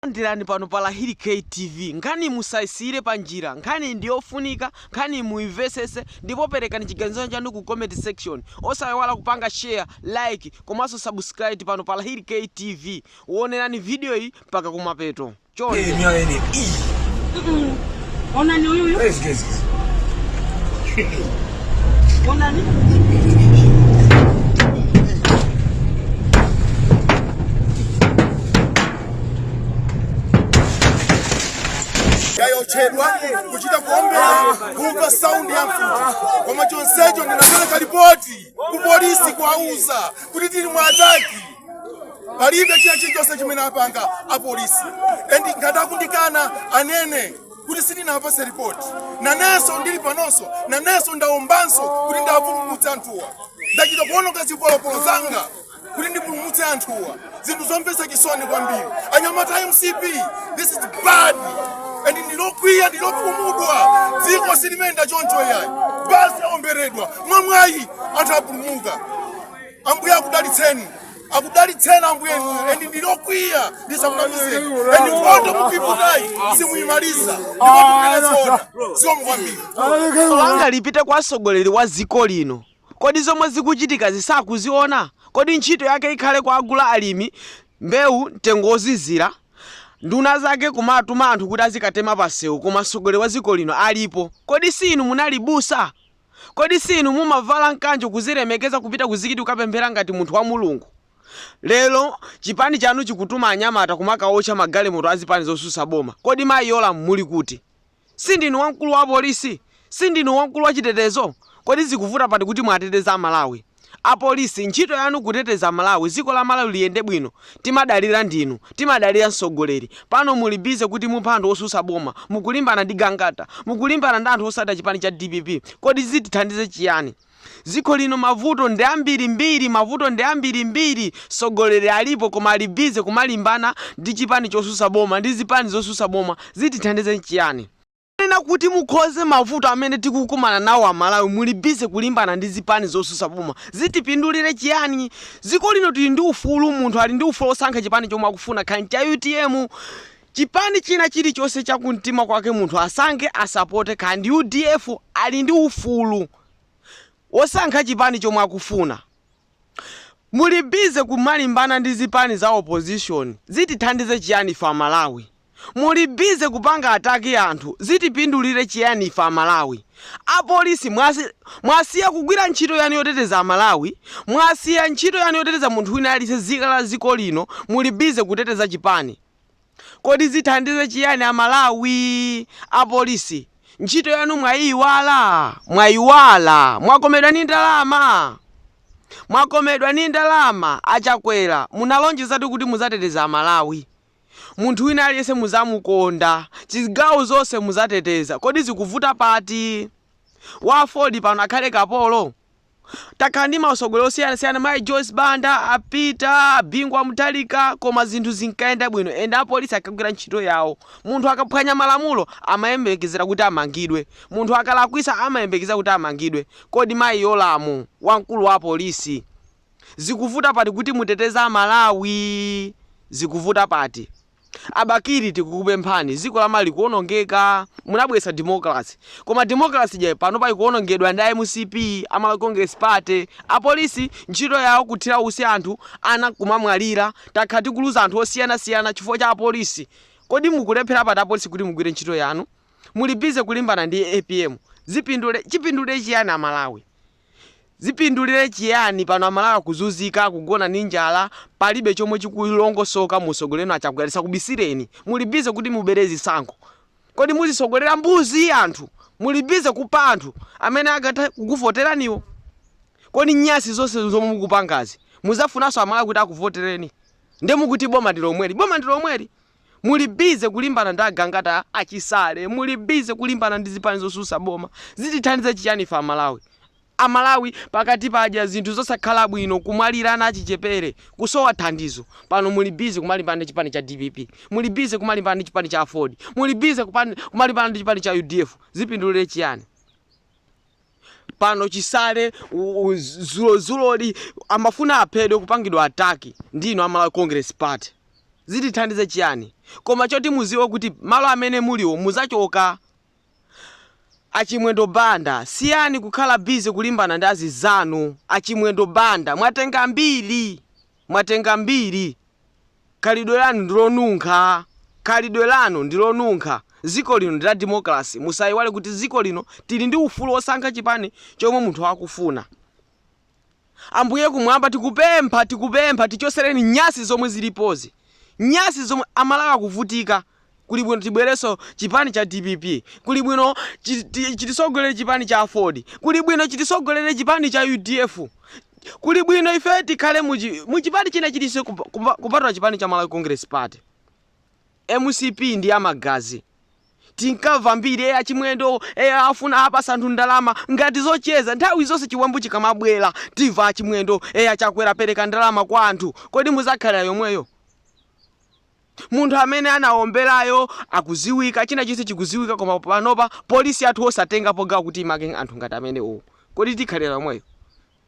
Takulandirani pano pa Lahiri K TV. Nkhaniyi musaisiyire panjira. Nkhaniyi ndi yofunika, nkhaniyi muimvetsetse ndipo perekani chiganizo chanu ku comment section. Osaiwala kupanga share, like komanso subscribe pano pa Lahiri K TV. Wonerani vidiyoyi mpaka kumapeto. Chonde. Onani huyu huyu. Yes, yes, yes. Onani. Yayochedwa kuchita kuombera kumva saundi ya mfuti koma chonsecho ndinapereka ripoti ku polisi kuwauza kuti tili mu attack palibe china chilichonse chimene apanga apolisi and ngati akundikana anene kuti sindinawapase ripoti nanenso ndili panonso nanenso ndaombanso kuti ndiwapulumutse anthuwa ndachita kuononga zipolopolo zanga kuti ndipulumutse anthuwa zinthu zomvetsa chisoni kwambiri anyamata a mcp this is bad and ndilokwiya ndilokhumudwa dziko silimayenda choncho yayi basi aomberedwa mwamwayi anthu apulumuka Ambuye akudalitseni. Akudalitseni Ambuye inu. Endi ndilokwiya ndisakunamizeni. Endi nkhondo mukuiputayi simuyimaliza. Ndipo tupile zona. Sio mkwambiri. langa lipite kwa mtsogoleri wa dziko lino kodi zomwe zikuchitika sakuziona kodi ntchito yake ikhale kuwagula alimi mbewu mtengo wozizira nduna zake kumatuma anthu kuti azikatema pasewu koma mtsogoleri wa dziko lino alipo kodi si inu munali busa Kodi si inu mumavala mkanjo kuzilemekeza kupita ku mzikiti kukapemphera ngati munthu wa Mulungu? Lero chipani chanu chikutuma anyamata kumakaocha magalimoto a zipani zosusa boma. Kodi mayi Yolamu muli kuti? Sindinu wamkulu wa apolisi? Sindinu wamkulu wa chitetezo? Kodi zikuvuta pati kuti muwateteze a Malawi? Apolisi ntchito yanu kuteteza aMalawi ziko la Malawi liyende bwino timadalira ndinu timadalira msogoleri pano muli busy kuti muphe anthu osusa boma mukulimbana ndi Gangata mukulimbana ndi anthu osata chipani cha dpp kodi zitithandize chiyani ziko lino mavuto ndi ambiri mbiri mavuto ndi ambiri mbiri sogoleri alipo koma ali busy kumalimbana ndi chipani chosusa boma ndi zipani zosusa boma zitithandize chiyani Kunena kuti mukonze mavuto amene tikukumana nawo amalawi muli busy kulimbana ndi zipani zosusa boma zitipindulire chiyani? Dziko lino tili ndi ufulu munthu ali ndi ufulu osankha chipani chomwe akufuna kaya ncha utm chipani china chilichonse chakumtima kwake munthu asankhe asapote kaya ndi udf ali ndi ufulu wosankha chipani chomwe akufuna. Muli busy kumalimbana ndi zipani za opposition zitithandize chiyani ife amalawi? Muli busy kupanga attack anthu zitipindulire chiyani ife amalawi? Apolisi mwasiya kugwira ntchito yanu yoteteza amalawi mwasiya ntchito yanu yoteteza munthu wina aliyense zika la ziko lino muli busy kuteteza chipani. Kodi zithandize chiyani a Malawi? Apolisi ntchito yanu mwayiyiwala? Mwayiwala? Mwakomedwa ni ndalama? Mwakomedwa ni ndalama? A Chakwera munalonjezatu kuti muzateteza a Malawi. Munthu wina aliyense muzamukonda. Zigawo zonse muzateteza. Kodi zikuvuta pati? Wa aford pano akhale kapolo? Takhala ndi mautsogoleri osiyanasiyana mayi Joyce Banda, a Peter, a Bingu wa Mutharika koma zinthu zinkayenda bwino ende apolisi ankagwira ntchito yawo. Munthu akaphwanya malamulo amayembekezera kuti amangidwe. Munthu akalakwitsa amayembekezera kuti amangidwe. Kodi mayi Yolamu, wamkulu wa apolisi, zikuvuta pati kuti muteteze Amalawi? Zikuvuta pati? A Bakili tikukupemphani ziko la Malawi likuonongeka munabweretsa democracy koma democracy ija panopa ikuonongedwa ndi a mcp, a Malawi Congress Party, apolisi ntchito yawo kuthira usi anthu ana nkumamwalira takhala tikuluza anthu osiyana siyana chifukwa cha apolisi kodi mukulephera pati apolisi kuti mugwire ntchito yanu muli busy kulimbana ndi apm zipindule chipindule chiyani a Malawi? Zipindulire chiyani pano amalawi akuzuzika akugona ndi njala palibe chomwe chikulongosoka mu usogoleli wanu achakwera tisakubisileni muli busy kuti mubele zisankho kodi muzisogolera mbuzi anthu muli busy kupha anthu amene akatha kukuvotelaniwo kodi nyasi zonse zomwe mukupangazi muzafunanso amalawi kuti akuvoteleni nde mukuti boma ndilomweli boma ndilomweli Muli busy kulimbana ndi agangata a chisale, muli busy kulimbana ndi zipani zosusa boma. Zitithandize chiyani ife a Malawi? A Malawi pano akudya zinthu zosakhala bwino, kumwalira ana achichepere, kusowa thandizo, pano muli busy kumalimbana ndi chipani cha dpp, muli busy kumalimbana ndi chipani cha aford, muli busy kumalimbana ndi chipani cha udf. Zipindulire chiyani? pano chisale zulozuloli amafuna aphedwe kupangidwa attack ndi inu a Malawi Congress Party zitithandize chiyani koma choti muziwe kuti malo amene muliwo muzachoka a Chimwendo Banda siyani kukhala busy kulimbana ndi azizanu a Chimwendo Banda mwatenga mbiri Mwatenga mbiri. Khalidwe lanu ndi lonunkha. Khalidwe lanu ndi lonunkha. Dziko lino ndi la democracy. Musaiwale kuti dziko lino tili ndi ufulu wosankha chipani chomwe munthu akufuna. Ambuye kumwamba tikupempha tikupempha tichotsereni nyasi zomwe zilipozi. Nyasi zomwe, a Malawi akuvutika. kuli bwino tibwereso chipani cha dpp kuli bwino chitisogolere chipani cha aford kuli bwino chitisogolere chipani cha udf kuli bwino ife tikhale muchipani china chilichonse kupatula chipani cha malawi congress party mcp ndi amagazi tinkamva mbiri ya a chimwendo afuna apasa anthu ndalama ngati zocheza nthawi zonse chiwembu chikamabwera timva a chimwendo a chakwera pereka ndalama kwa anthu kodi muzakhalira yomweyo Munthu amene anawombelayo akuziwika china chilichonse chikuziwika koma panopa police yathu osatengapo gawo kuti imange anthu ngati amenewowo kodi tikhalila yomweyo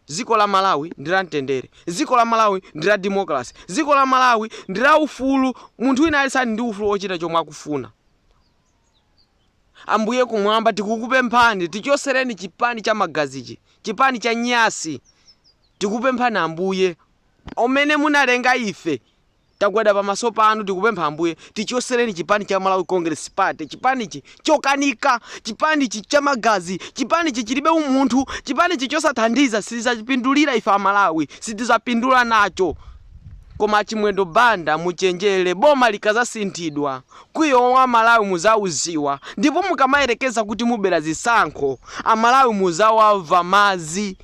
ziko la malawi ndi la mtendere ziko la malawi ndi la democracy ziko la malawi ndi la ufulu munthu wina aliyense ali ndi ufulu ochita chomwe akufuna ambuye kumwamba tikukupemphani tichoseleni chipani cha magazichi chipani cha nyansi tikupemphani ambuye omene munalenga ife Tagwada pamaso panu tikupempha Ambuye tichosereni chipani cha Malawi Congress Party, chipanichi chokanika, chipanichi cha magazi, chipanichi chilibe umunthu, chipanichi chosathandiza sitizapindulira ife a Malawi, sitizapindula nacho. Koma a Chimwendo Banda muchenjere boma likazasinthidwa kwiyo wa a Malawi muzaudziwa ndipo mukamayerekeza kuti mubera zisankho a Malawi muzawamva madzi.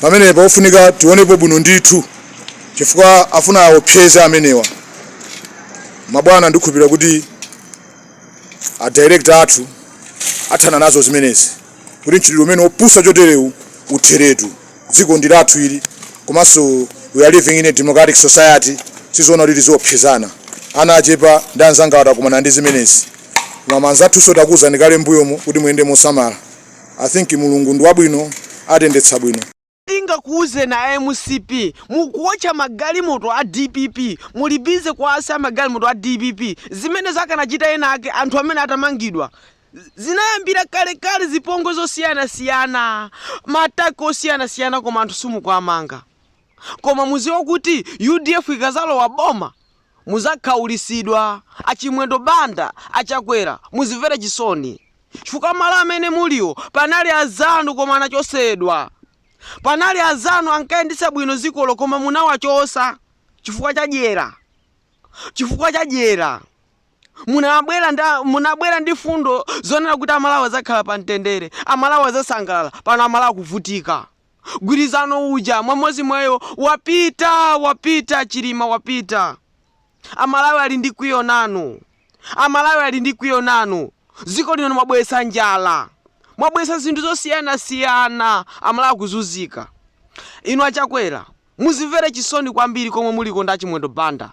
pamenepa ofunika tionepo bwino ndithu chifukwa afuna aopseze amenewa mabwana ndikhulupirira kuti a director athu athana nazo zimenezi kuti mchitidwe umenewu opusa choterewu utheretu dziko ndi lathu ili komanso we are living in a democratic society sizoona kuti tiziopsezana ana achepa ndi anzanga atakumana ndi zimenezi koma manzathuso takuwuzani kale mbuyomo kuti muyende mosamala I think Mulungu ndi wabwino atendetsa bwino. Tingakuuzeni a mcp mukuotcha magalimoto a dpp muli busy kuwayasa magalimoto a dpp zimenezo akanachita ena ake anthu amenewa atamangidwa. Zinayambira kalekale zipongwe zosiyanasiyana ma attack osiyanasiyana koma anthu simukuwamanga. Koma muziwe kuti udf ikazalowa boma Muzakhaulitsidwa a Chimwendo Banda a Chakwera muzimvere chisoni chifukwa malo amene muliwo panali azanu koma anachosedwa panali azanu ankayendetsa bwino dzikolo koma munawachosa chifukwa cha dyera chifukwa cha dyera munabwera nda munabwera ndi fundo zonena kuti amalawi azakhala pa mtendere amalawi azasangalala pano amalawi akuvutika gwirizano uja mmamozi mwayo wapita wapita chilima wapita amalawi ali ndi kwiyo nanu amalawi ali ndi kwiyo nanu ziko lino mwabweretsa njala mwabweretsa zinthu zosiyanasiyana amalawi akuzunzika inu achakwera muzimvere chisoni kwambiri komwe muliko ndi achimwendo banda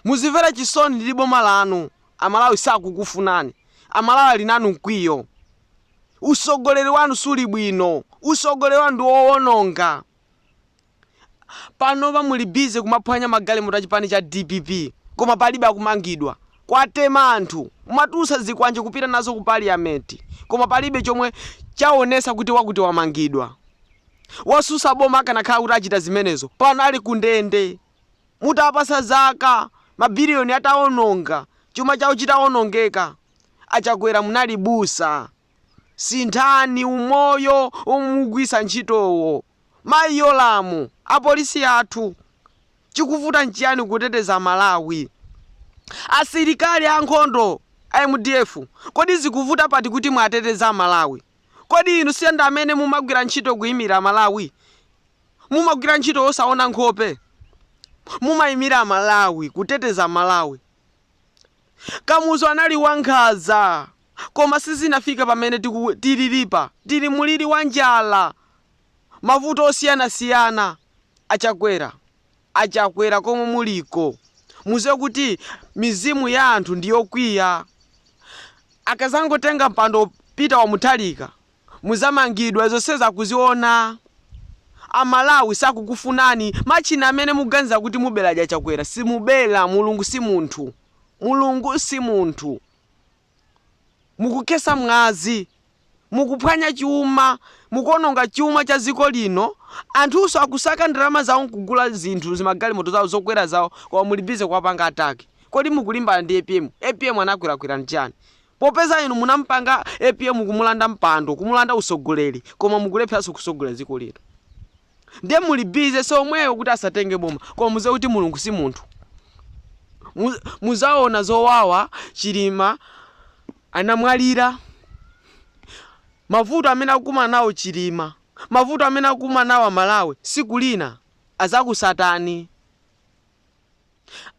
muzimvere chisoni ndi boma lanu amalawi sakukufunani amalawi ali nanu mkwiyo Usogoleri wanu suli bwino. Usogoleri wanu ndi owononga. Panopa muli busy kumaphwanya magalimoto a chipani cha dpp koma palibe akumangidwa. Kwatema anthu. Mwatulutsa zikwanje kupita nazo ku parliament koma palibe chomwe chaonesa kuti wakuti wamangidwa. Wosusa boma akanakhala kuti achita zimenezo pano ali ku ndende. Mutawapasa za ma billion ataononga, chuma chawo chitaonongeka. achakwera munali busa sinthani umoyo omwe mukugwisa ntchitowo mayi yolamu apolisi athu chikuvuta nchiyani kuteteza malawi asilikali ankhondo a mdf kodi zikuvuta pati kuti muwateteze amalawi kodi inu si amene mumagwira ntchito kuimira malawi mumagwira ntchito osaona nkhope mumaimira malawi kuteteza malawi Kamuzu anali wa nkhaza koma sizinafika pamene tililipa tili mulili wa njala mavuto osiyana siyana achakwera achakwera komwe muliko muziwe kuti mizimu ya anthu ndiyokwiya akazangotenga mpando peter wa muthalika Muzamangidwa zonsezi akuziona a Malawi sakukufunani matchina amene mukuganiza kuti mubela aja aChakwera simubela mulungu simunthu mulungu simunthu mukukhesa mwazi mukuphwanya chuma mukuononga chuma cha ziko lino anthunso akusaka ndalama zawo nkugula zinthu zimagalimoto zawo zokwera zawo koma muli busy kuwapanga attack kodi mukulimbana ndi apm apm anakulakwirani chani Popeza inu munampanga apm kumulanda mpando, kumulanda usogoleri koma mukulepheranso kusogolera dziko lino. Ndiye muli busy so omweyo kuti asatenge boma koma muziwe kuti Mulungu si munthu. Muzaona zowawa Chilima anamwalira. Mavuto amene akukumana nawo Chilima, mavuto amene akukumana nawo a Malawi siku lina azakusatani.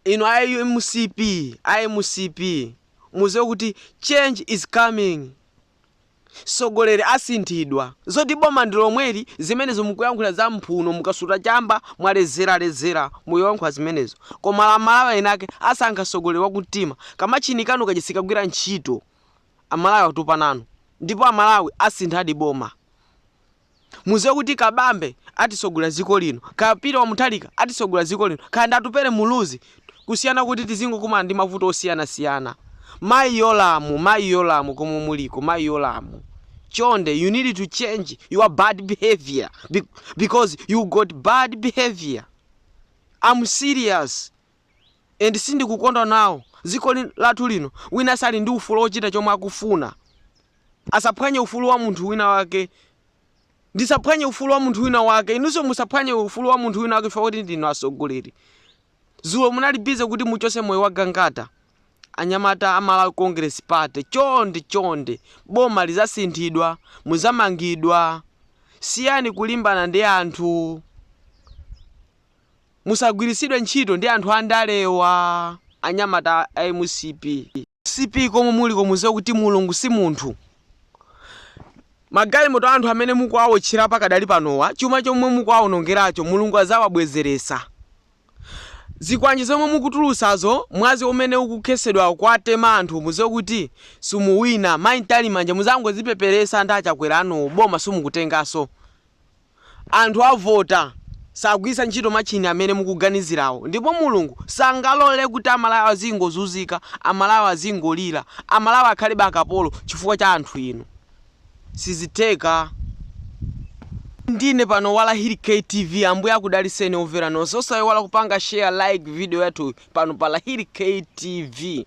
Inu a mcp a mcp muziwe kuti change is coming sogoleri asinthidwa zoti boma ndilomweli zimenezo mukuyankhula za mphuno mukasuta chamba mwalezera lezera ndiye muyankhula zimenezo koma amalawi enaake asankha sogoleri wakumtima kamatchini kanu kaja sikagwira ntchito amalawi atopa nanu ndipo amalawi asinthadi boma Muziwe kuti Kabambe atisogolera ziko lino kaya Peter wa Muthalika atisogolera ziko lino kaya ndi Atupele Muluzi kusiyana kuti tizingokumana ndi mavuto osiyana siyana. Mayi Yolamu mayi Yolamu komwe muliko mayi Yolamu chonde you need to change your bad behaviour because you got bad behaviour. I'm serious. and sindikukondwa nawo dziko lathu lino wina aliyense ali ndi ufulu ochita chomwe akufuna asaphwanye ufulu wa munthu wina wake ndisaphwanye ufulu wa munthu wina wake inunso musaphwanye ufulu wa munthu wina wake chifukwa choti ndinu atsogoleri dzulo munali busy kuti muchose moyo wa gangata anyamata a malawi congress party chonde chonde boma lizasinthidwa muzamangidwa siyani kulimbana ndi anthu musagwiritsidwe ntchito ndi anthu andalewa anyamata a mcp. Mcp komwe muliko muziwe kuti mulungu simunthu. Magalimoto aanthu amene mukuwaotchera pakadali panowa chuma chomwe mukuwaonongeracho mulungu azawabwezeresa. Zikwanje zomwe mukutulusazo mwazi umene ukukhesedwawo kuwatema anthu muziwe kuti simuwina. Mai ntalimanja muzangozipeperesa ndi achakwera anuwo boma simukutengaso. anthu avota sagwiritsa ntchito matchini amene mukuganizirawo ndipo Mulungu sangalole kuti a Malawi azingozunzika, a Malawi azingolira, a Malawi akhalebe akapolo chifukwa cha anthu inu. Sizitheka. Ndine pano Wala Hit Kay TV Ambuye akudaliseni overa nonse osaiwala kupanga share like video yathuyi pano pa la Hit Kay TV.